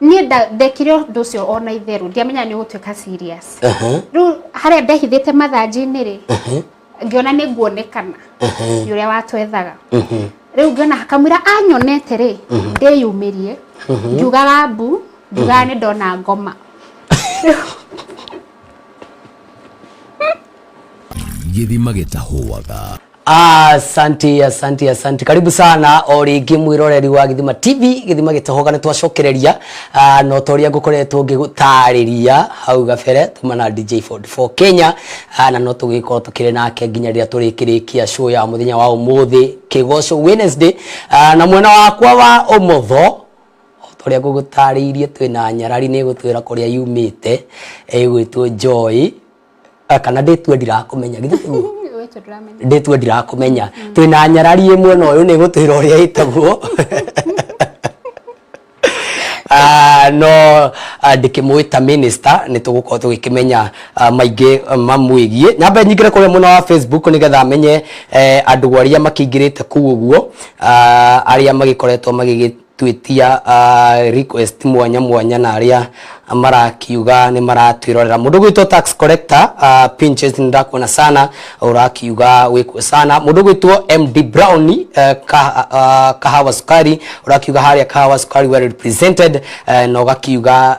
niä ndekire å ndå å cio ona itherå ndiamenya nä å gå tuä ka rä u harä a ndehithä te mathanjinä rä ngĩona nĩ nguonekana nĩ ũrĩa watwethaga rĩu ngĩona hakamwĩra anyonete rĩ ndĩyumĩrie ngiugaga mbu ngiugaga nĩ ndona ngoma gĩthima gĩtahũaga asanti asanti asanti karibu sana o rĩngĩ mwĩroreri wa gĩthima tv gĩthima gĩtohoga nĩ twacokereria Ah, no ta ũrĩa ngũkoretwo ngĩgũtarĩria hau gabere tuma na dj 44 kenya Ah, na no tũgĩkorwo tũkĩrĩ nake nginya rĩrĩa tũrĩkĩrĩkia show ya mũthenya wa ũmũthĩ kĩgoco wednesday Ah, na mwena wakwa wa ũmotho tũrĩa ngũgũtarĩirie twĩna nyarari nĩ gũtwĩra kũrĩa yumĩte ĩgwĩtwo joy Ah, kana ndĩtue ndirakũmenya githĩ tiguo Wĩtũ ndũramenya. ndĩtue ndirakũmenya twĩna nyarari ĩmwe na ũyũ nĩ gũtwĩra ũrĩa ĩtagwo Ah, no ah, ndĩkĩmwĩta minister nĩ tũgũkorwo tũgĩkĩmenya ah, maingĩ ah, mamwĩgiĩ nyambe nyingĩre kũrĩa mwena wa facebook nĩgetha menye eh, andũ arĩa makĩingĩrĩte kũu ũguo ah, arĩa magĩkoretwo magĩgĩ twĩtia uh, request mwanya mwanya na arĩa marakiuga nĩ maratwĩrorera mũndũ gwĩtwo tax collector uh, pinches nĩndakuona sana ũrakiuga wĩkuo sana mũndũ gwĩtwo md brown uh, kaha, uh, kahawa sukari ũrakiuga harĩa kahawa sukari well represented uh, na ũgakiuga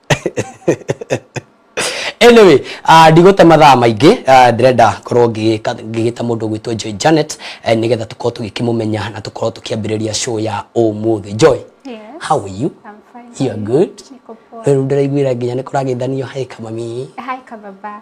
anyway uh, ndigũte mathaa maingĩ uh, ndĩrenda korwo ngĩgĩka- ngĩgĩta mũndũ gwĩtwo joy janet eh, nĩgetha tũkorwo tũgĩkĩmũmenya na tũkorwo tũkĩambĩrĩria show ya ũmũthĩ joy Yes. how are you I'm fine. you are good Niko poa. rĩu ndĩraiguĩra nginya nĩ kũragĩthanio hai kamami Hi, Kababa.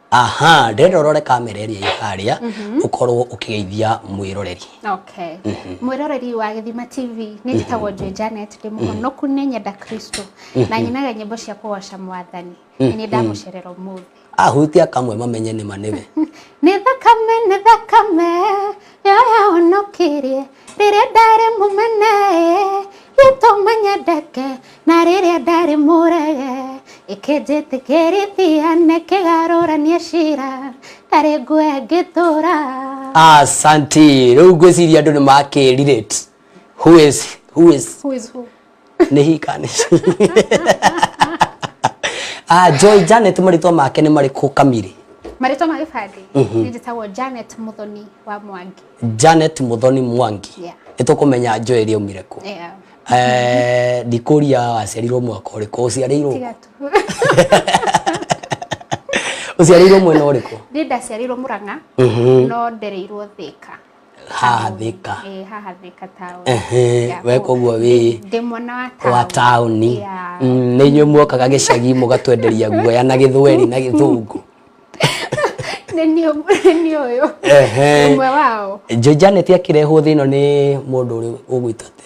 aha ndĩrenda ũrore kamera ĩrĩa ĩ harĩa ũkorwo ũkĩgeithia mwĩroreri Okay. Mwĩroreri wa Gĩthima TV nĩ njĩtagwo Joy Janet ndĩ mũhonoku nĩ nyenda Kristo na nyinaga nyĩmbo cia kũgoca mwathani na nĩ ndamũcerera ũmũthĩ. ahutia kamwe mamenye nĩma nĩwe Nĩ thakame nĩ thakame yoyahonokirie Rĩrĩa ndarĩ mũmene gĩtũma nyendeke na rĩrĩa ndarĩ mũrege ĩkĩnjĩtĩkĩrithia na ĩkĩgarũrania cira ndarĩ nguoya ngĩtũra asanti rĩu ngwĩciria andũ nĩ makĩ relate who is who is Who is who? nĩ hikani Ah, joy janet marĩtwa make nĩ marĩkũ kamiri marĩtwa ma gĩbandĩ nĩ njĩtagwo janet mũthoni wa mwangi janet muthoni mwangi Yeah. nĩtũkũmenya joy ĩrĩa aumire kũ Yeah. Eh, ndikũria waciarirwo mwaka ũrĩkũ ũciarĩirwo tiga tu ũciarĩirwo mwena ũrĩkũ nĩ ndaciarirwo mũrang'a no ndereirwo thĩka haha thika eh haha thika town ehe we koguo wi ndi mwana wa town wa town ni nyu muokaga gicagi mugatwenderia guoya na githweri na githungu nĩ ũyũ ũmwe wao Janet akĩrehwo thĩno nĩ mũndũ ũrĩ ũgwĩtate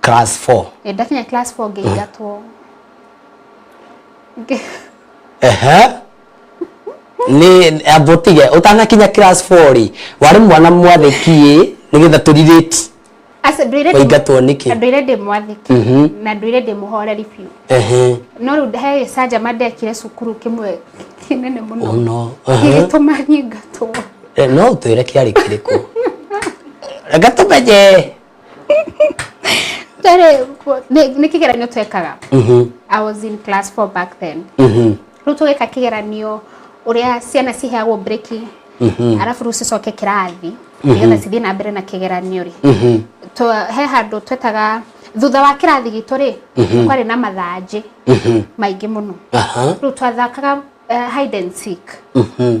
class four. ĩ ndakinya class four ngĩingatwo Ngĩ- Ehe. nĩ ambotige ũtanakinya class four rĩ warĩ mwana mwathĩki ĩ nĩgetha tũrirĩti Aca, ndũire ndĩ- Waingatwo nĩkĩ? na ndũire ndĩ mwathĩki Mhm. na ndũire ndĩ mũhoreri biũ Ehe. no rĩu he gĩcanjama ndekire cukuru kĩmwe kĩnene mũno Mũno. Ehe. gĩgĩtũma nyingatwo Eh, no ũtwĩre kĩarĩ kĩrĩkũ reka tũmenye twarĩ nĩ nĩ kĩgeranio twekaga Mhm. i was in class 4 back then Mhm. rĩu tũgĩka kĩgeranio ũrĩa ciana ciheagwo breki Mhm. arabu rĩu cicoke kĩrathi nĩgetha cithiĩ na mbere na kĩgeranio rĩ Mhm. Twa- he handũ twetaga thutha wa kĩrathi gitũ rĩ kwarĩ na mathanjĩ Mhm. maingĩ mũno Aha. rĩu twathakaga eh, hide and seek Mhm.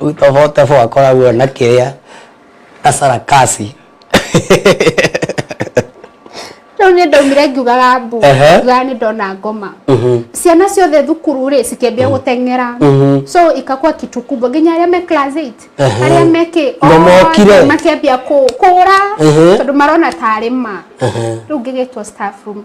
utobotobo akoragwo na kĩrĩa na sarakasi rĩu nĩ ndaumire ngiugaga mbu Ehe. ngiugaga nĩ ndona ngoma ciana ciothe thukuru rĩ cikĩambia gũteng'era so ikakua kitu kubwa nginya arĩa me class 8 Ehe. arĩa mekĩ Na mokire. othe makĩambia kũ- kũũra Ehe. tondũ marona tarĩ ma rĩu ngĩgĩtwo staff room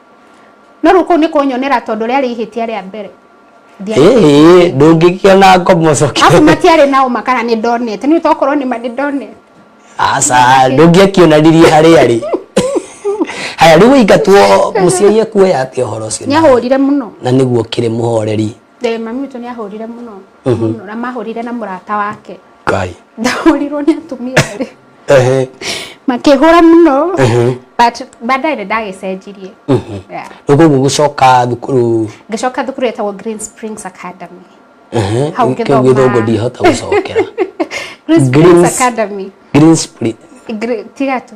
No rĩu kũu nĩ kũnyonera tondũ rĩarĩ ihĩtia rĩa mbere. Ĩĩ, ndũngĩgĩa na ngombo Afu ũcoke. matiarĩ na ũma kana nĩ ndonete. Nĩ tokorwo nĩ ma nĩ ndonete. Aca, ndũngĩakĩonanirie harĩa arĩ. Haya, rĩu waingatwo mũciari ekuoya atĩa ũhoro ũcio? Nĩ ahũrire mũno. Na nĩguo ũkĩrĩ mũhoreri. Eh, mami witũ nĩ ahũrire mũno Mhm. mũno, na mahũrire na mũrata wake kai ndahũrirwo nĩ atumia erĩ ehe makĩhũra mũno ehe but baadaye nĩ ndagĩcenjirie mhm Yeah. rĩu koguo gũcoka thukuru ngĩcoka thukuru yetagwo Green Springs Academy ehe Hau kĩu ngĩthoma. gĩthũngũ ndihota gũcokera Green Springs Greens- Academy Green Spring Gre- tiga tu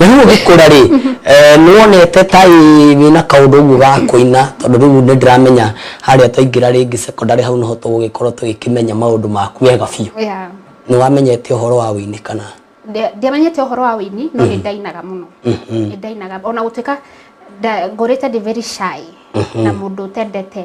na rĩu ũgĩkũra rĩ eh, nĩ wonete ta ĩ wĩna kaũndũ ũguo ga kũina tondũ rĩu nĩ ndĩramenya harĩa twaingĩra rĩngĩ secondary hau noho tũgũgĩkorwo tũgĩkĩmenya maũndũ maku wega biũ Yeah. nĩ wamenyete ũhoro wa wĩini kana Ndia- ndiamenyete ũhoro wa wĩini no nĩ ndainaga mũno nĩ ndainaga ona gũtuĩka nda- ngũrĩte ndĩ very shy na mũndũ ũtendete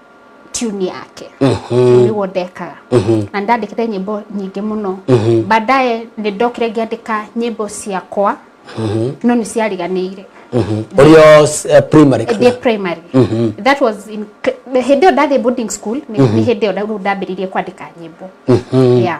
tune yake Mhm. niguo ndekaga Mhm. na ndandikire nyimbo nyingĩ mũno Mhm. baadaye nĩ ndokire ngĩandĩka nyimbo ciakwa Mhm. no nĩ ciariganĩire Mhm. Ũrĩ o s- eh, primary ndĩ kana? primary Mhm. that was in hĩndĩ ĩyo ndathiĩ boarding school nĩ nĩ hĩndĩ ĩyo rĩu ndambĩrĩirie kwandĩka nyĩmbo Mhm. yeah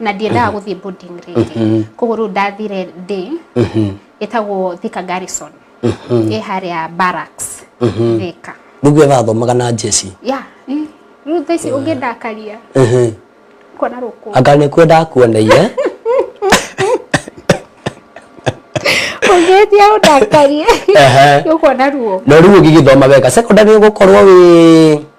na ndiendaga gũthiĩ boarding rĩngĩ koguo rĩu ndathire ndĩ ĩtagwo Thika Garrison ĩ harĩa barracks Thika rĩu getha athomaga na njeci ya ĩ, rĩu thaa ici ũngĩndakaria kuona rũkũ anga nä kwenda akuoneire ũngĩtia ũndakarie Ehe. nĩũkuona ruo no rä u å gä gä thoma wega secondary å gå korwo wä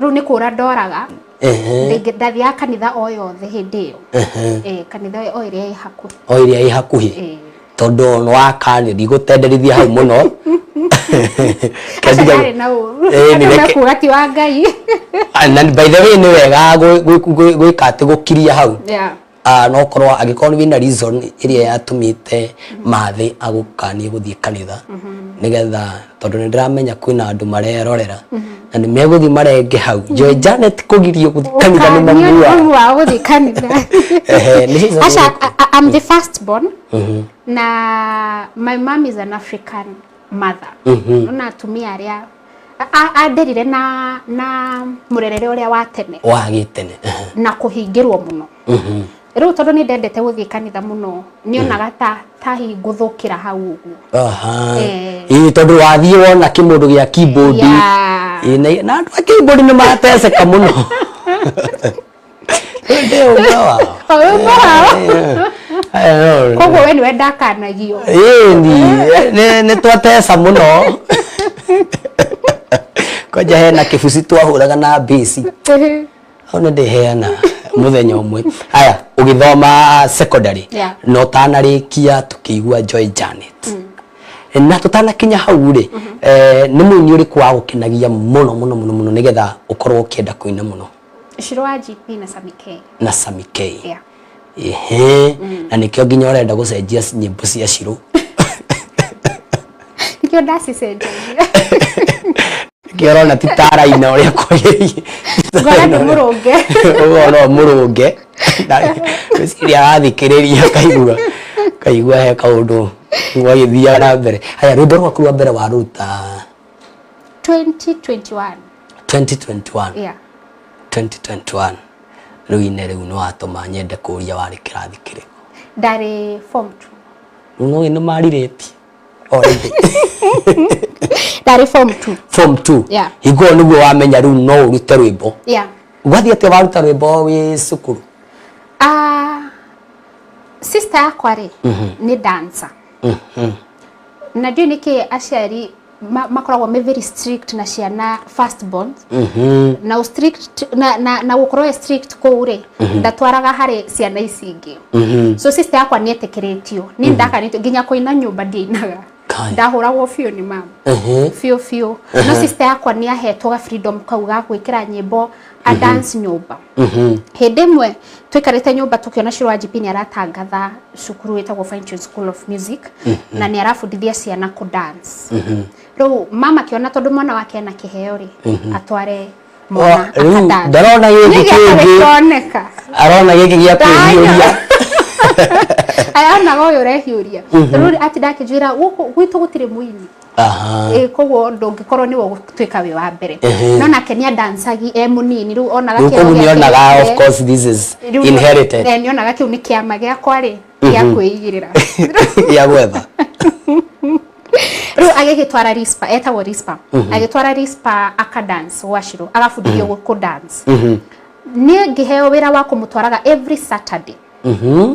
rĩu nĩ kũra ndoraga ndathiaga kanitha o yothe hĩndĩ ĩyo eh, kanitha o ĩrĩa ĩ hakuhĩ o ĩrĩa ĩ hakuhĩ eh. tondũ nĩ wakania ndigũtenderithia hau mũno kuga ti wa ngai ah, na by the way nĩ wega gwĩka atĩ gũkiria hau Ah, no korwo angĩkorwo wĩna reason ĩrĩa yatũmĩte mathĩ agũkanie gũthiĩ kanitha nĩgetha tondũ nĩ ndĩramenya kwĩna andũ marerorera na nĩ megũthiĩ marenge hau njoe Janet kũgirio gũthiĩ kanitha nĩ mamu Ũkaniũria wao. mamu wao gũthiĩ kanitha Ehe, nĩ hizo Asha, nĩrĩkũ? I- I- I'm the first born na my mom is an African mother na atumia arĩa Anderire na na murerere uria wa tene wa gitene na kuhingirwo muno mhm. riu tondu ni ndendete guthii kanitha muno ni onaga mm. ta tahi nguthukira hau uguo aha eh. ii tondu wathii wona kimundu gia keyboard na andu a keyboard ni mateseka muno Ĩndĩ ũmwe wao. Ũmwe wao. Eh, Koguo we nĩwe ndakanagio. Ĩni, eh, nĩ twateca mũno. Kwanja hena kĩbuci twahũraga na mbĩci. Hau nĩ ndĩheana muthenya umwe haya ugithoma secondary yeah. no tanarikia tukiigua joy janet mm. na tutanakinya hau ri mm -hmm. eh, ni muini uriku wa gukinagia muno muno muno muno nigetha ukorwo ukienda kuina muno Shiro wa GP na Sami K. na Sami K Yeah. ehe na nikio nginya urenda gucenjia nyimbo cia Shiro Nikio ndacicenjagia. nikio urona ti taraina uria kwagiriire Ngora nĩ mũrũnge. ũguo no mũrũnge gwĩciria arathikĩrĩria kaigua kaigua he kaũndũ gwagĩthiaga na mbere haya rwĩmbo rwaku rwa mbere waruta 2021 2021 yeah 2021 rĩu ine rĩu nĩ watũma nyende kũria warĩ kĩrathi kĩrĩkũ ndarĩ form 2 rĩu no nĩ marirĩti already ndarĩ form 2 form 2 Yeah. hingũo nĩguo wamenya rĩu no ũrute rwĩmbo yeah wathiĩ atĩa waruta rwĩmbo wĩ cukuru Ah, sister yakwa rĩ nĩ dancer na ndiũĩ nĩkĩ aciari ma- makoragwo me very strict na ciana first born na ũ strict na, na, na gũkorwo e strict kũu rĩ ndatwaraga harĩ ciana ici ingĩ so sister yakwa nĩ etĩkĩrĩtio nĩ ndakanĩtio nginya kũina nyũmba ndiainaga Kai. ndahũragwo biũ nĩ mama Ehe. biũ biũ no sister yakwa nĩ ahetwo ga freedom kau ga gwĩkĩra nyĩmbo a dance nyũmba hĩndĩ ĩmwe twĩkarĩte nyũmba tũkĩona Shiro Wanjipi nĩ aratangatha cukuru wĩtagwo Fine Tunes School of Music na nĩ arabundithia ciana kũ dance rĩu mama akĩona tondũ mwana wake ena kĩheo rĩ atware mwana Wa- rĩu akadance. ndarona gĩkĩ Nĩ gĩatarĩ kĩngĩ. kĩoneka arona gĩkĩ gĩa kwĩhiũria ayanaga ũyũ ũrehiũria rĩu atinda akĩnjwĩra gũkũ gwitũ gũtirĩ mũini Aha. Eh, koguo ndũngĩkorwo nĩwe ũgũtuĩka wĩ wa mbere Ehe. no nake nĩ andancagi e mũnini rĩu onaga Rĩu kĩero kũu gĩake nĩonaga gĩake. of course this is Rĩu nĩ- inherited eh, nĩonaga kĩu nĩ kĩama gĩakwa rĩ gĩa kwĩigĩrĩra ya gwetha rĩu agĩgĩtwara rispa etagwo rispa agĩtwara rispa aka dance gwacirũ agabundithio mm kũ dance nĩ ngĩheo wĩra wa kũmũtwaraga every saturday Mhm.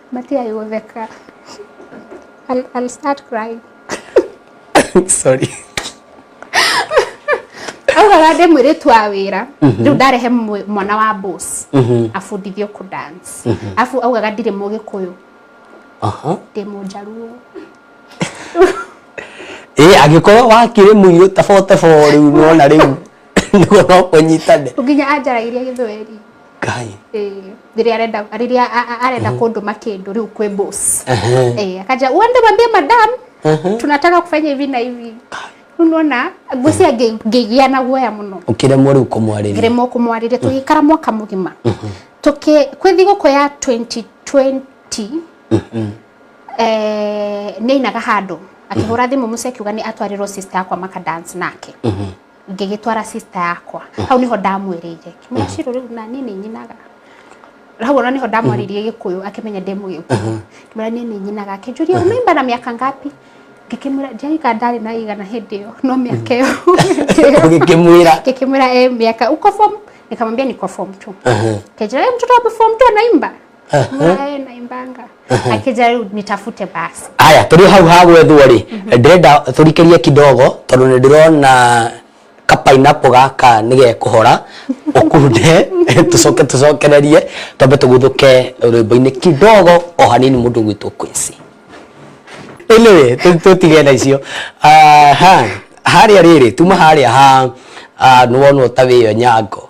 Matigai gũtheka. I'll, I'll start crying. sorry Augara ndĩ mwĩrĩtu wa wĩra rĩu ndarehe mwe- mwana wa boss abundithio kũ dance afu augaga ndirĩ mũgĩkũyũ aha ndĩ mũnjaruo ĩ angĩkorwo wakĩrĩ mũirũ tabotebo rĩu nona rĩu nĩguo no kũnyitane nginya anjaragĩria gĩthweri Ngai. Eh, rĩrĩa arenda rĩrĩa a- a- arenda kũndũma kĩndũ rĩu kwĩ boss Ehe. Eh, akaja uende mwambie madam Ehe. tunataka kufanya hivi na hivi rĩu nona ngwĩcia ngĩ- ngĩgĩa na guoya mũno Ũkĩremwo rĩu kũmwarĩria. ngĩremwo kũmwarĩria tũgĩikara mwaka mũgima tũkĩ kwĩ thigũkũ ya 2020 eh, nĩ ainaga handũ akĩhũra thimũ mũciĩ akiuga nĩ atwarĩrwo sister yakwa maka dance nake ngĩgĩtwara sister yakwa hau niho ndamwĩrĩire kimenya ciro riu na niĩ nĩ nyinaga hau ona niho ndamwaririe gĩkũyũ akĩmenya ndĩ mũgĩkũyũ kimenya niĩ nĩ nyinaga akĩnjũria ũmĩmba na mĩaka ngapi ngĩkĩmwĩra njaika ndarĩ na igana hĩndĩ ĩyo no mĩaka ĩyo ũgĩkĩmwĩra ngĩkĩmwĩra e mĩaka uko form nikamwambia niko form 2 Ehe. kenjira mtoto wa form 2 anaimba Mwae na imbanga. Akija rĩu nitafute basi. Haya, tũrĩ hau ha gwethwo rĩ, ndĩrenda tũrikĩrie kidogo tondũ nĩ ndĩrona ka pineapple gaka nĩ gekũhora ũkunde tũcoke tũcokererie twambe tũguthũke rwĩmbo-inĩ kidogo o hanini mũndũ gwitũ Quincy. Anyway, tũ- tũtige na icio Ah, ha harĩa rĩrĩ tuma harĩa ha ah, nĩ wonwo ta wĩyo nyango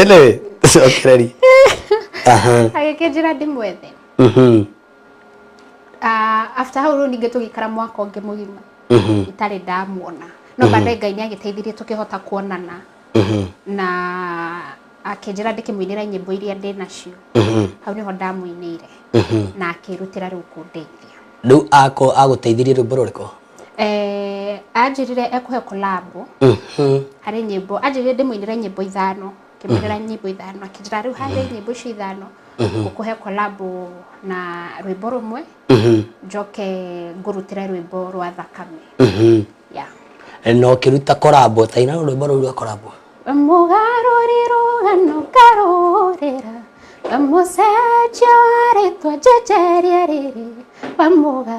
anyway cokereri agĩkĩnjĩra ndĩmwethe mhm. ah, after hau rĩu ningĩ tũgĩikara mwaka ũngĩ mũgima mhm. itarĩ ndamuona no mhm. baadaye ngai nĩ agĩteithirie tũkĩhota kuonana na akĩnjĩra ndĩkĩmũinĩra nyĩmbo iria ndĩ nacio hau nĩho ndamũinĩire na akĩrutĩra rĩu kũndeithia rĩu agũteithirie rwĩmbo rũrĩkũ eh, anjĩrire ekũhe kolabo Mhm. harĩ nyĩmbo anjĩrire ndĩmũinĩre nyĩmbo ithano ngĩmwĩrĩra nyĩmbo ithano akĩnjĩra rĩu harĩ nyĩmbo icio ithano ngũkũhe kolabo na rwĩmbo rũmwe Mhm. njoke ngũrutĩre rwĩmbo rwa thakame Mhm. ya na ũkĩruta korabo taina rwĩmbo rũu rwa korabo mũgarũri rũgano ngarũrĩra bamũcenjia wa rĩtwa njenjeria rĩrĩ bamũga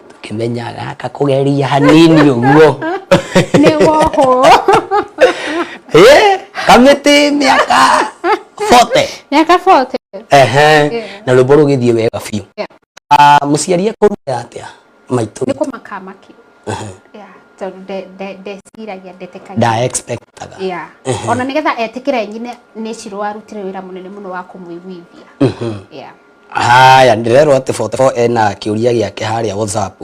ngĩmenya gaka kũgeria hanini ũguo nĩ wohwo Eh, kamĩtĩ mĩaka 40 miaka 40 Ehe, Yeah. na rwĩmbo rũgĩthiĩ wega biũ Yeah. Ah, mũciari ekũruta atĩa maitũ nĩ kũmakamaki Yeah, tondũ nde- nde- ndeciragia ndetĩkagia nda expectaga Yeah. ona nĩgetha etĩkĩre nyine nĩ cirwarutire wĩra mũnene mũno wa kũmũiguithia Yeah. Haya, ndĩrerwo atĩ 44 ena kĩũria gĩake harĩa WhatsApp.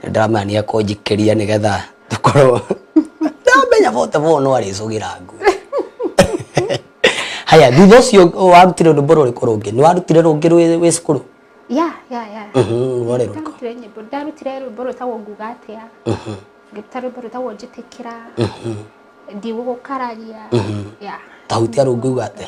Ndĩramenya nĩ ekũnjikĩria nĩgetha tũkorwo ndamenya 44 no arĩcũgĩra nguo. Haya, thutha ũcio warutire rwĩmbo rũrĩkũ rũngĩ? Nĩ warutire rũngĩ rwĩ wĩ cukuru? ya ya ya Mhm, rwarĩ rũrĩkũ? ndarutire nyĩmbo ndarutire rwĩmbo rwĩtagwo nguga atĩa ngĩruta rwĩmbo rwĩtagwo njĩtĩkĩra ndigũgũkararia ya Tahutia rungu uga atĩa?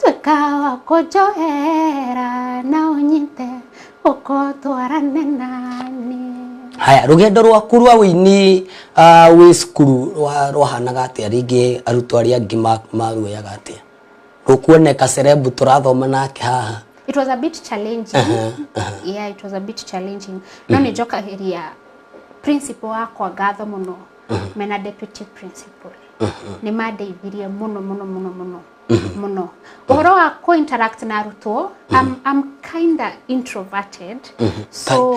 tuĩka wa kũnjohera na ũnyite ũko twarane nani haya rũgendo rwaku rwa wĩini ah, wĩ cukuru rwa- rwahanaga atĩa rĩngĩ arutwo arĩa angĩ ma- maruoyaga atĩa rũkuoneka cerebu tũrathoma nake haha it was a bit challenging Aha, aha. yeah it was a bit challenging no nä njokagäria principal wakwa ngatho må no mena deputy principal nä mandeithirie må no må no må no må no mũno ũhoro wa kũ interact na arutwo I'm, I'm kinda introverted so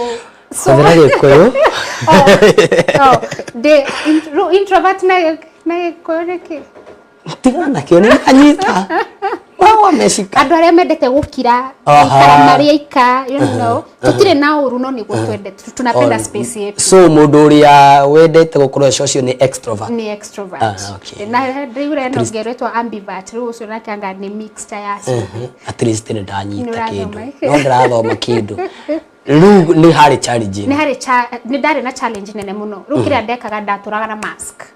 so hũthĩra gĩkũyũ oh, oh, ndĩ in- ru- introvert na gĩ- na gĩkũyũ nĩ kĩ tiga nakĩo nĩ anyita wagwa mecika andå arä a mendete gå kira Aha. aikara marä aika you know tutirĩ na ũru no nĩguo twende tu- tunapenda On- space yetu so mũndũ ũrĩa wendete gũkorwo eco ũcio nĩ extrovert ni extrovert Ah, okay. na rä u reno ngerwetwo ambivert rä u å cio nake anga nĩ mixta ya ciothe at least nĩ ndanyita Nĩũrathoma kĩndũ ĩkĩ? no ndĩrathoma kĩndũ rĩu nĩ harĩ challenge nĩ ĩno. harĩ cha- nĩ ndarĩ na challenge nene mũno rä u kä rä a ndekaga ndatå raga na mask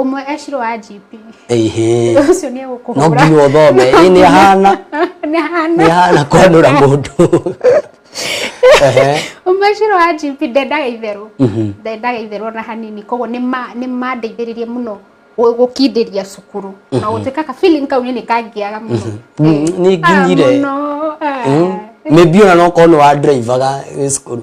Ũmwe ecirwo wa GP. Ehe. Ũcio nĩ egũkũhũra. No nginya ũthome. Ĩ nĩ ahana. Nĩ ahana. Nĩ ahana kwanũra mũndũ. Ũmwe ecirwo wa GP ndendaga itherũ. Mhm. Ndendaga itherũ ona hanini. Koguo nĩ nĩ mandeithĩrĩirie mũno gũkindĩria cukuru. Na mhm. gũtuĩka ka feeling kau nĩ kangiaga mũno. Mhm. Eh, nĩ nginyire. Ah, mũno. Ah. Maybe ona no korwo nĩ wa drivaga cukuru.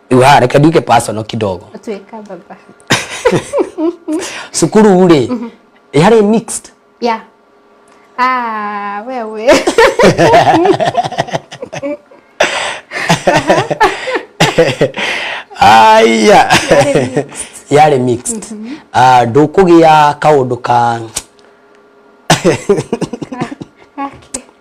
rĩu haha reke nduike personal kidogo tuĩka baba cukuru rĩ yarĩ mixed ya ah wewe aya yarĩ mixed Ah, ndũkũgĩa kaũndũ ka Haki.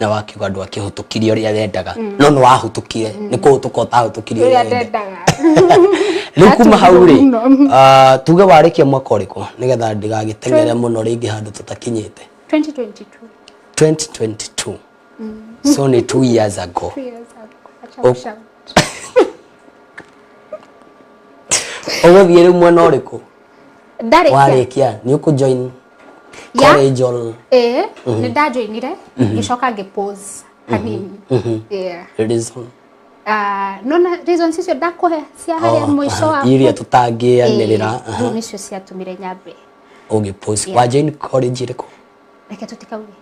na wakiuga ndwakĩhũtũkirie ũrĩa wendaga no nĩ wahũtũkire nĩ kũhũtũka ũtahũtũkirie ũrĩa ũrĩa wendaga ndendaga rĩu kuma hau rĩ Atũgĩrwo mũno. ah, tuge warĩkia mwaka ũrĩkũ nĩgetha ndigagĩteng'ere mũno rĩngĩ handũ tũtakinyĩte 2022 2022 so nĩ two years ago Two years ago. Acha Oh. kushout. ũgũthiĩ rĩu mwena ũrĩkũ ndarĩkia warĩkia nĩ ũkũjoin ya Kore jol. eh nä ndajoinire ngä coka ngä pose kanini Yeah. Reason. Ah, nona reasons icio ndakå he cia harä a må ico waku Iria tũtangĩanĩrĩra. rä u nä cio ciatũmire nyambe Ũgĩ post. Wa join college ĩrĩkũ? reke tå tikauge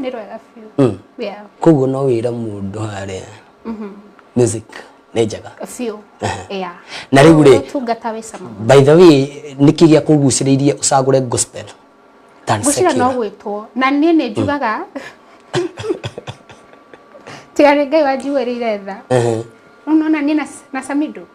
nĩ rwega biũ Mm. yeah koguo no wĩra mũndũ harĩa music nĩ njega biũ yeah Na rĩu rĩ- ũtungata wĩ cama mũno. by the way nĩkĩ gĩa kũgucĩrĩirie ũcagũre gospel than ngwĩciria no secular? gwĩtwo na niĩ nĩ njugaga tiga nĩ ngai wanjiguĩrĩire tha Ehe. ũnona niĩ na- na samido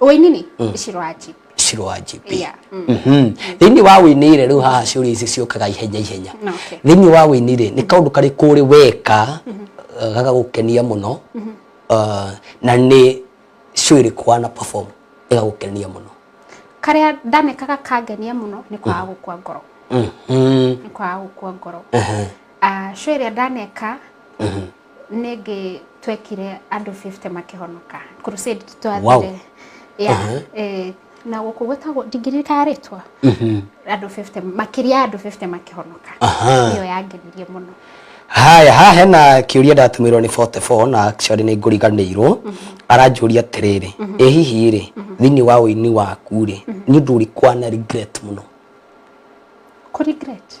wĩinini icirwo aji icirwo wa GP Yeah, mm. Mhm. thĩinĩ wa wĩinĩ rĩ rĩu haha ciũria ici ciũkaga ihenya ihenya No, okay. thĩinĩ wa wĩinĩ rĩ nĩ kaũndũ karĩ kũrĩ weka eh, gagagũkenia mũno eh, na nĩ show ĩrĩkũ wana perform ĩgagũkenia mũno karĩa ndanekaga kangenia mũno nĩ kwaga gũkua ngoro Mhm. nĩ kwaga gũkua ngoro Ehe. Ah, show ĩrĩa ndaneka nĩ ngĩ twekire andũ 50 makĩhonoka crusade twathire Wow. yeah, Aha. eh, na gũkũ gwĩtagwo ndingĩririkana rĩtwa andũ 50 makĩria ya andũ 50 makĩhonoka Aha. iyo yangenirie mũno haya haha hena kĩũria ndatumĩrwo nĩ 44 na actually nĩ ngũriganĩirwo aranjũria atĩrĩrĩ ĩ hihi rĩ thĩinĩ wa ũini waku rĩ nĩ ũndũ ũrĩkwa na regret mũno kũ regret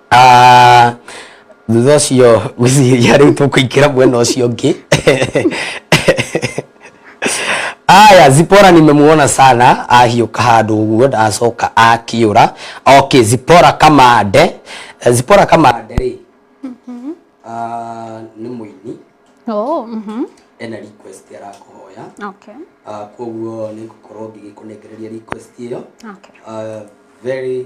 Ah, thutha ũcio ngwĩciria rĩu tũkũingĩra mwena ũcio ũngĩ aya zipora nimemuona sana ahiũka handũ ũguo ndacoka akĩũra okay zipora kamande Eh, zipora kamande rĩ Ah, nĩ mũini Oh, mhm. ena request arakũhoya Okay. Ah, koguo nĩ ngũkorwo ngĩgĩkũnengereria request ĩyo Okay. Ah, very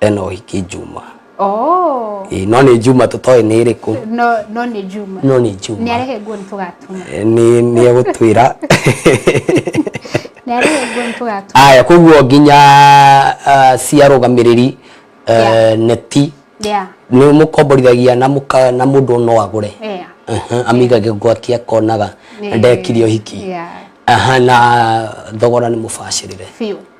ena ũhiki njuma Oh. Ĩĩ, no nĩ njuma tũtoĩ nĩ ĩrĩkũ No no nĩ Juma. no nĩ njuma Nĩ arehe nguo nĩ tũgatuma. Eh, nĩ nĩ egũtwĩra Nĩ arehe nguo nĩ tũgatuma. aya koguo nginya ah, cia rũgamĩrĩri eh, Yeah. neti Yeah. nĩ mũkomborithagia na mũka- na mũndũ no agũre Yeah. Aha, amigage gwake akonaga Yeah. ndekirie ũhiki Yeah. Aha, na thogora nĩ mũbacĩrĩre Biũ.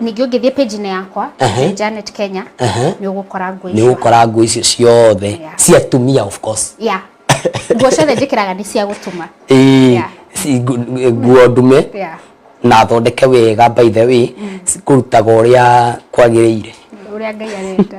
Ningĩ ũngĩthiĩ page inĩ yakwa Ehe. nĩ Janet Kenya Ehe. nĩ ũgũkora nguo nĩ icio. ũgũkora nguo icio ciothe Yeah. cia atumia of course Yeah. Nguo ciothe njĩkĩraga nĩ cia gũtuma. Ĩĩ, Yeah. ci- ngu- nguo ndume Yeah. na thondeke wega by the way kũrutaga ũrĩa kwagĩrĩire Ũrĩa Ngai arenda.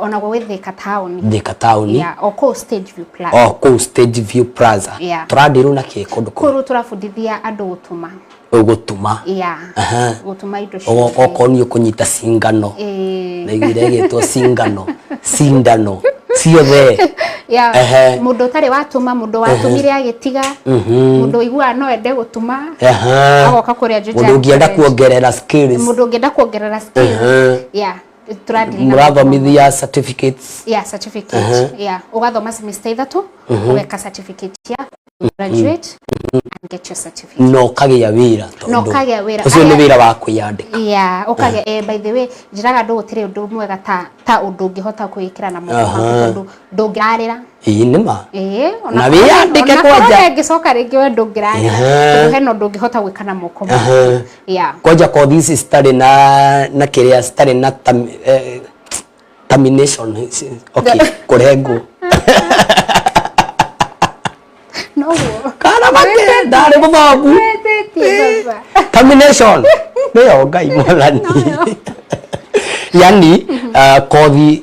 ona gwĩ thika taoni thika taoni yeah, o kũu stage view plaza o kũu stage view plaza yeah. tũrandirwo na kĩ kũndũ kũu kũu tũrabundithia andũ gũtuma gũtuma yeah. gũtuma indo ciothe okorwo nĩ ũkũnyita cingano na iguire ĩgĩtwo cingano cindano ciothe yeah. må ndå å tarä watåma må ndå watåmire agä tiga må mhm. ndå iguaga no ende gå tuma agoka kå rä a må ndå å ngä enda kuongerera må ndå å ngä enda kuongerera yeah. tũrathiri na mũrathomithia certificates yeah certificate Aha. yeah ugathoma semester ithatu ugeka certificate yaku you graduate and get your certificate na ũkagĩa wĩra Na tondũ ũkagĩa wĩra. ũcio nĩ Aya- wĩra wa kwĩyandĩka yeah ukage eh, by the way njiraga ndu gutire undu mwega ta ta undu ngihota kuikira na moko Aha. maku tondu ndungirarira ii nĩ ma Eh, Na wĩyandĩke kwanja. ngicoka rĩngĩ we ndũngĩrarĩra Aha. tondũ hena ũndũ ũngĩhota gwĩka na moko maku Aha. yeah. kwanja kothi ici citarĩ na na kĩrĩa citarĩ na tam, eh, termination okay kũrengwo noguo kana make ndarĩ mũthongu wĩtĩtie baba termination nĩyo ngai mwathani yani uh, kothi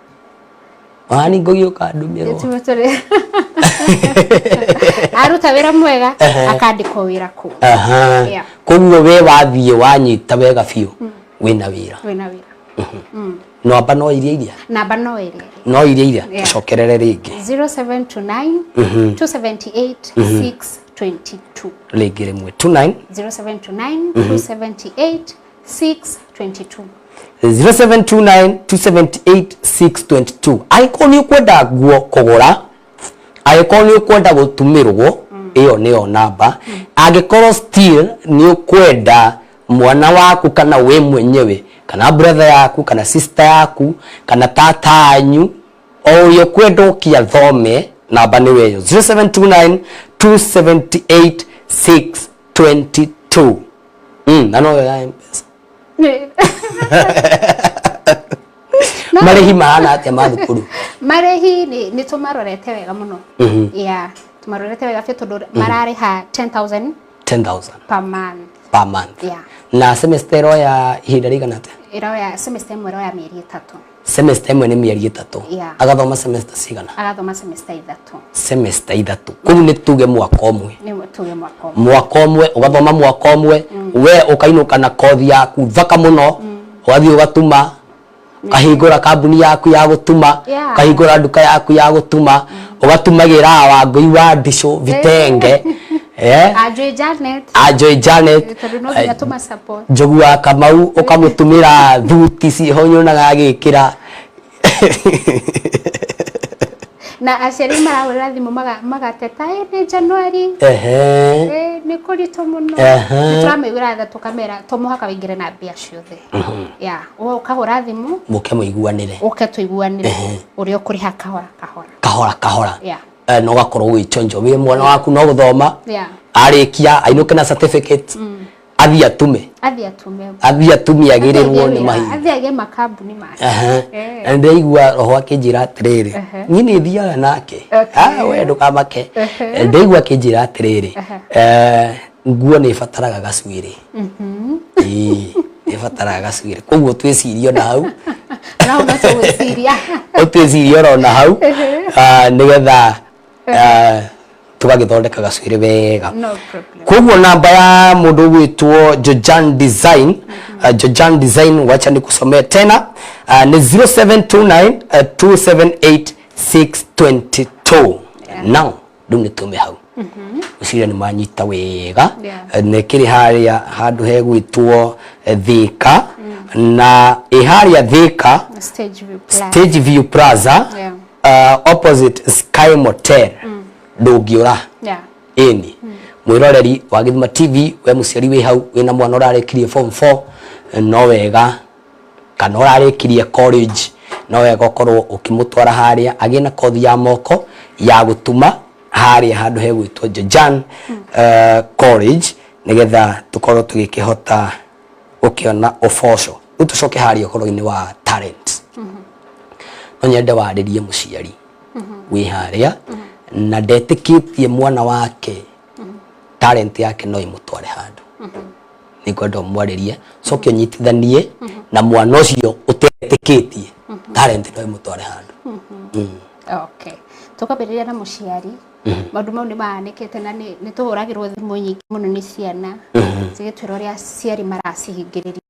wani ngogi ukandumirwo Tume tũrĩ aruta wĩra mwega Ehe. akandĩkwo wĩra kũu aha Yeah. koguo we wathiĩ wanyita wega biũ wĩna wĩra wĩna wĩra namba no iria iria namba no ĩrĩa no iria iria Yeah. cokerere rĩngĩ 0729 278 622 rĩngĩ rĩmwe 29 0729 278 622 0729278622 angĩkorwo nĩ ũkwenda nguo kũgũra angĩkorwo nĩ ũkwenda gũtumĩrwo ĩyo nĩyo namba angĩkorwo still nĩ ũkwenda mwana waku kana we mwenyewe kana brother yaku kana sister yaku kana tata anyu o ũrĩa ũkwenda ũkia thome namba nĩ weyo 0729278622 Mm, na noyo ya mpesa Nĩ- marĩhi mahana atĩa ma thukuru marĩhi nĩ nĩ tũmarorete wega mũno Mhm. ya tũmarorete wega biũ tondũ mararĩha 10000 10000 per month per month Yeah. na semester ĩroya ihinda rĩigana atĩa ĩroya semester ĩmwe ĩroya mĩeri ĩtatũ semester ĩmwe nĩ mĩeri ĩtatũ Yeah. agathoma semester cigana agathoma semester ithatũ semester ithatũ kũu nĩ tuge mwaka ũmwe nĩ tuge mwaka ũmwe mwaka ũmwe ũgathoma mwaka ũmwe we ũkainũka na kothi yaku thaka mũno ũgathiĩ ũgatuma ũkahingũra kambuni yaku ya gũtuma Yeah. ũkahingũra nduka yaku ya gũtuma ũgatumagĩra wangũi wa ndicũ vitenge eh Ajwe Janet. Ajwe Janet. Njogu wa Kamau ukamutumira thuti ciho nyonaga agikira. na aciari marahũrĩra thimũ magateta ĩ nĩ januari nĩ kũritũ mũno nĩ tũramĩgũra tha tũkamera to mũhaka wĩingĩre na mbia ciothe mhm. ya ũkahũra thimũ mũke mũiguanĩre ũke tũiguanĩre ũrĩa ũkũrĩha kahora kahora kahora kahora eh, na ũgakorwo wĩ chonjo wĩ mwana waku no gũthoma Yeah. arĩkia ainũke na certificate athiĩ atume Athiĩ atume. athiĩ atumia agĩrĩrwo nĩ mahinda Athiĩ agĩe makambuni make. Aha. Eh. na ndĩraigua roho akĩnjĩra atĩrĩrĩ Aha. niĩ nĩ thiaga nake Okay. Ah, we ndũkamake Aha. ndaigua akĩnjĩra atĩrĩrĩ Aha. eh, nguo nĩ ĩbataraga gacuĩrĩ Ĩĩ, ĩbataraga gacuĩrĩ koguo twĩcirie ona hau na ũnacio gwĩciria ũtwĩcirie oro na hau ah, nĩgetha ah, tũgagĩthondeka gacuĩrĩ wega no problem koguo namba ya mũndũ ũgwĩtwo jojan design ah, jojan design wacha nĩkusomee tena ah, nĩ 0729 ah, 278622 now rĩu nĩ tũme hau ũcira nĩ manyita wega Yeah. Eh, nĩ kĩrĩ harĩa handũ hegwĩtwo eh, thĩka na ĩ harĩa thĩka Stage view plan. stage view plaza Yeah. uh, opposite sky motel ndũngĩũra Yeah. ĩni mwĩroreri wa gĩthima tv we mũciari wĩ hau wĩna mwana ũrarekirie form 4 no wega kana ũrarĩkirie college no wega ũkorwo ũkĩmũtwara harĩa agĩe na kothi ya moko ya gũtuma harĩa handũ hegwĩtwo Jojan uh, college nĩgetha tũkorwo tũgĩkĩhota gũkĩona ũboco rĩu tũcoke harĩa ũhoro-inĩ wa talent no nyende warĩrie mũciari wĩ harĩa na ndetĩkĩtie mwana wake talent yake no imutware handu nä ngwenda mwarä coke nyitithanie na mwana å cio å tetä tie talent no imå tware handå okay tukambĩrĩria na mũciari maũndũ mau nĩ mahanĩkĩte na nĩ nĩ tũhũragĩrwo thimũ nyingĩ mũno nĩ ciana cigĩtwĩra ũrĩa aciari maracihingĩrĩria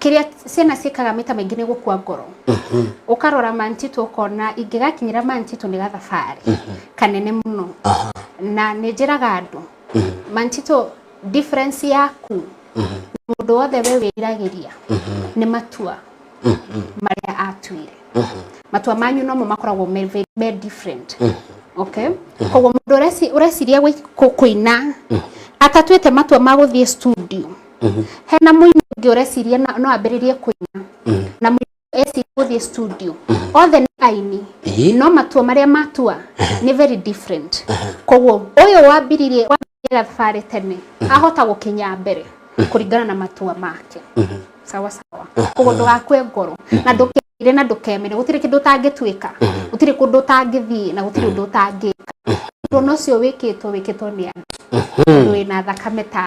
kĩrĩa ciana ciĩkaga maita maingĩ nĩ gũkua ngoro ũkarora mantitũ ũkona ingĩgakinyĩra mantitũ nĩ gathabarĩ kanene mũno na nĩ njĩraga andũ mantitũ difference yaku mũndũ wothe we wĩriragĩria nĩ matua marĩa atuire matua manyu nomo makoragwo me very- me different okay koguo mũndũ ũreci- ũreciria gwĩ- kũ- kũina atatuĩte matua ma gũthiĩ studio hena mũini ũngĩ ũreciria na- no ambĩrĩrie kũina na mũini ũcio eciria gũthiĩ studio othe nĩ aini Ĩĩ. no matua marĩa matua nĩ very different koguo ũyũ wambiririe wambĩrĩria thabarĩ tene ahota gũkinya mbere kũringana na matua make sawa sawa koguo ndũgakue ngoro na ndũkĩire na ndũkemere gũtirĩ kĩndũ ũtangĩtuĩka gũtirĩ kũndũ ũtangĩthiĩ na gũtirĩ ũndũ ũtangĩka ũndũ ona ũcio wĩkĩtwo wĩkĩtwo nĩ andũ tondũ wĩna thakame ta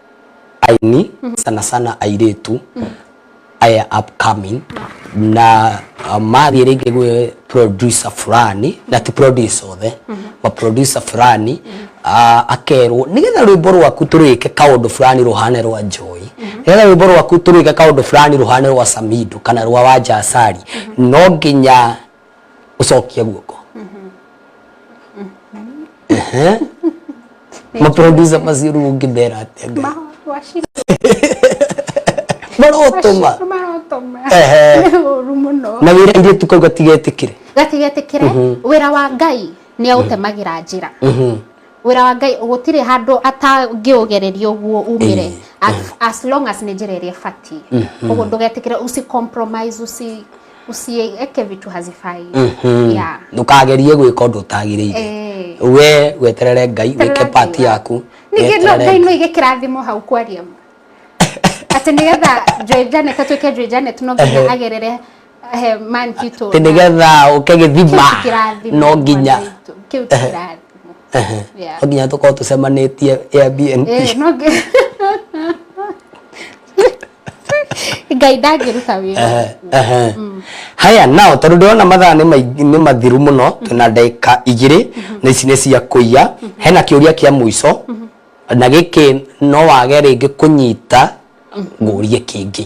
aini sana sana airĩtu aya upcoming na uh, mathiĩ rĩngĩ gwĩ producer fulani na ti producer othe ma producer fulani uh, akerwo nĩgetha rwĩmbo rwaku tũrwĩke kaũndũ fulani rũhane rwa njoi nĩgetha rwĩmbo rwaku tũrwĩke kaũndũ fulani rũhane rwa samido kana rwa wanja asari no nginya ũcokia guoko Ehe. maproducer macio rĩu ũngĩmera atĩa Ngai? Wacira marotũma marotoma Ehe. nĩ ũru mũno na wĩra irĩtu kau gatigetĩkĩre gatigetĩkĩre wĩra wa ngai nĩ aũtemagĩra njĩra wĩra wa ngai gũtirĩ handũ atangĩũgereria ũguo umĩre as, as long as nĩ njĩra ĩrĩa ĩbatiĩ ũguo ndũgetĩkĩre usi compromise usi usieke vitu hazifai yeah. ndũkagerie gwĩka ũndũ ũtagĩrĩire Eh. we weterere ngai wĩke Terera pati Ngai yaku ningĩ no weterere ngai no ige kĩrathimo hau kwaria ma atĩ nĩgetha Joy Janet atuĩke Joy Janet no nginya agerere Ehe, man kitu Atĩ nĩgetha ũke gĩthima Kĩu ti kĩrathimo, no nginya mwana witũ. Kĩu ti kĩrathimo. Ehe. Yeah. no nginya tũkorwo tũcemanĩtie Airbnb Eh, no ngi- ngai ndangĩruta wĩra Ehe, ehe. haya nao tondå ndärona mathaa nĩ maingĩ- nĩ mathiru må no twä na ndagä igä na ici nä cia kå iya hena kä å ria kä a må ico na gä kä no wage rä ngä kå nyita ngå rie kä ngä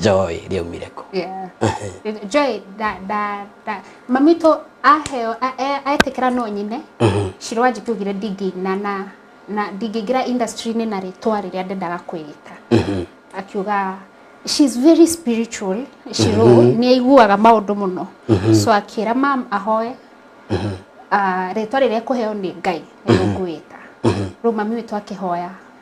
joy rĩaumire kũ Yeah. Joy, da, da, da. Mami to aheo, a- e- aetĩkĩra no nyine, Shiro anjĩtugire ndingĩ na na na ndingĩingĩra industry-inĩ na rĩtwa rĩrĩa ndendaga kwĩgita. Akiuga she's very spiritual, Shiro nĩ aiguaga maũndũ mũno. So akĩra mam ahoe ah, rĩtwa rĩrĩa kũheo nĩ Ngai nĩ ngwĩta. Rĩu mami witũ akĩhoya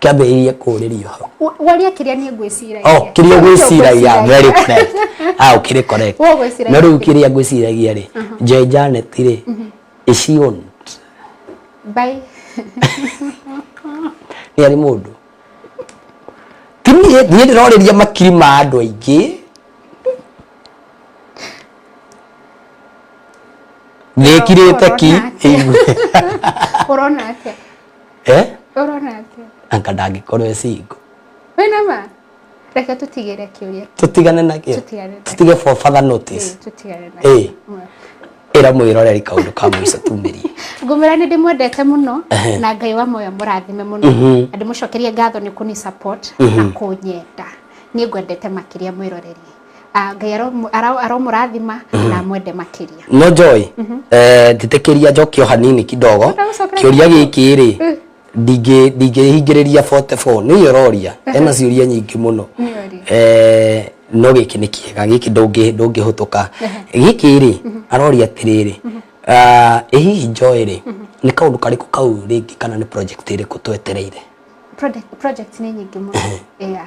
kĩambĩrĩirie kũrĩrio hau Wa- waria kĩrĩa niĩ ngwĩciragia oh kĩrĩa gwĩciragia very correct ah ũkĩrĩ correct Wewe ũgwĩciragia no rĩu kĩrĩa gwĩciragia rĩ Joy Janet rĩ is she owned Bye. nĩ arĩ mũndũ ti niĩ niĩ ndĩrorĩria makiri ma andũ aingĩ nĩkirĩte ki Ũrona atĩa? eh Ũrona atĩa? anga ndangĩkorwo e single Wĩ na ma? Reke tũtigĩre kĩũria. tũtigane na kĩo Tũtigane na tũtige for further notice Ĩĩ, Tũtigane na Ĩĩ. kĩo. ĩra mwĩroreri kaũndũ ka mũico tumĩrie ngũmwĩra nĩ ndĩmwendete mũno Ehe. na ngai wa moyo mũrathime mũno Mhm. na ndĩmũcokerie ngatho nĩ kũni support na kũnyenda nĩ ngwendete makĩria mwĩroreri Ah, ngai aromu- ara- aromũrathima na amwende makĩria no joy eh, njĩtĩkĩria njokio hanini kidogo Ndagũcokera kĩũria gĩkĩ rĩ ndingĩ- ndingĩhingĩrĩria 44 nĩ iye ũroria ena ciũria nyingĩ mũno Nĩũria. Eh, no gĩkĩ nĩ kĩega gĩkĩ ndũngĩ- ndũngĩhũtũka gĩkĩ rĩ aroria atĩrĩrĩ ah, ĩ hihi joy rĩ nĩ kaũndũ karĩkũ kau rĩngĩ kana nĩ project ĩrĩkũ twetereire Project- project nĩ nyingĩ mũno yeah.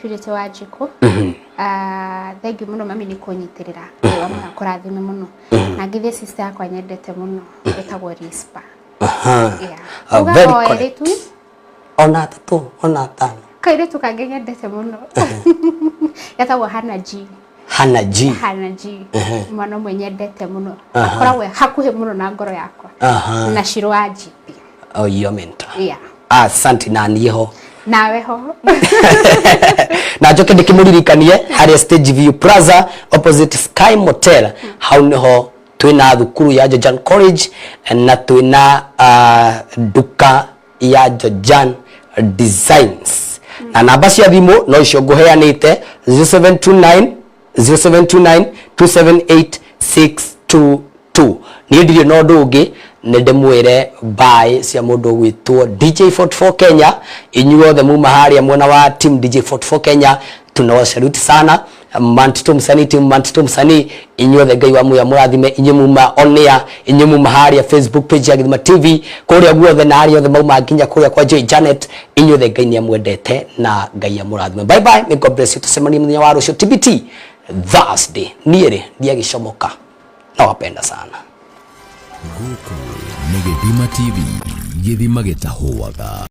purity wa njikũ Ah, thengiũ mũno mami nĩ kũnyitĩrĩra wĩra mũno kũrathime mũno na ngĩthiĩ sister yakwa nyendete mũno ĩtagwo rispa Aha. Yeah. Ah, Uga very o correct. erĩtu ona atatũ ona atano kairĩtu kangĩ nyendete mũno getagwo hana g hana ji hana ji mwana ũmwe nyendete mũno akoragwo hakuhĩ mũno na ngoro yakwa na ciro wa jipi oh, iyo menta yeah. asanti na niĩ ho nawe ho na njoke ndĩkĩmũririkanie harĩa stage view plaza opposite sky motel hmm. hau nĩho twina thukuru ya Jojan College na twina uh, duka ya Jojan Designs na namba cia thimũ no icio ngũheanĩte 0729 0729 278622 niĩ ndirĩ na ũndũ ũngĩ nĩ ndĩmwĩre mbaĩ cia mũndũ ũgwĩtwo DJ44 Kenya inyuothe muma harĩa mwena wa team DJ44 Kenya tunawasaluti sana manti tå msanii tim manti tå msanii inyuothe ngai wa muya mũrathime inyuĩ muma onea inyuĩ muma harĩa facebook page ya githima tv kũrĩa guothe na harĩa othe mauma nginya kũrĩa kwa joy janet inyuothe ngai nĩ amwendete na ngai amũrathime bye bye may god bless you tũcemanie mũthenya wa rũciũ tbt thursday niĩ rĩ ndiagĩcomoka nawapenda sana gũkũ nĩ gĩthima tv gĩthima gĩtahũaga